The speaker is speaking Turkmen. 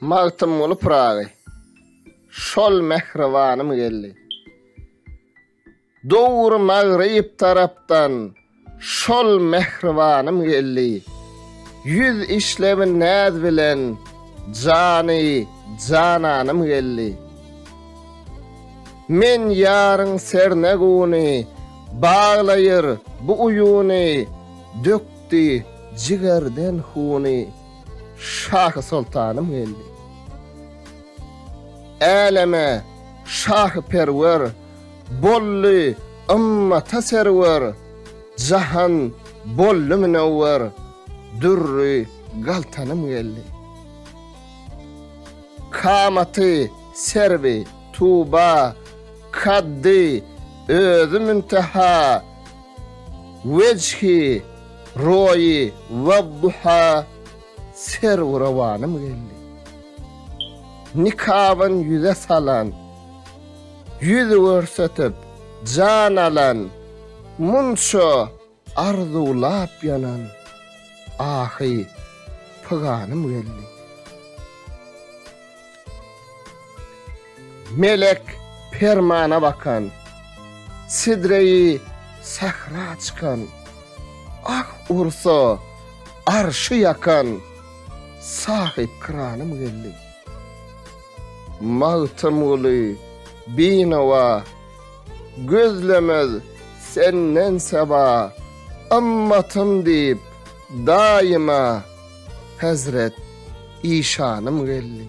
Magtymguly Pyragy Şol mähribanym geldi. Döwür magryp tarapdan Şol mähribanym geldi. Ýüz işlebin näz bilen Jany jananym geldi. Men ýaryň serne guny, Baglaýyr bu uýuny, Dök Tutdy jigerden huny şahy-soltanym geldi. Äleme şahyperwer bolly ymmata serwer jahan bolly münewwer dürri galtanym geldi. Kamaty serwi tuba kaddy özi münteha Wejhi, Roýi, Wadduha, Serwi rowanym geldi. Nikabyn ýüze salan, Ýüz görsetip, jan alan, Munça arzuwlap ýanan, Ahy, pyganym geldi. Melek permana bakan, Sidreýi sähra çykan, Ah ursa, arşy ýakan, Sahypkyranym geldi. Magtymguly, binawa, Gözlemez senden seba, Ymmatym diýip, daýyma, Hezret işanym geldi.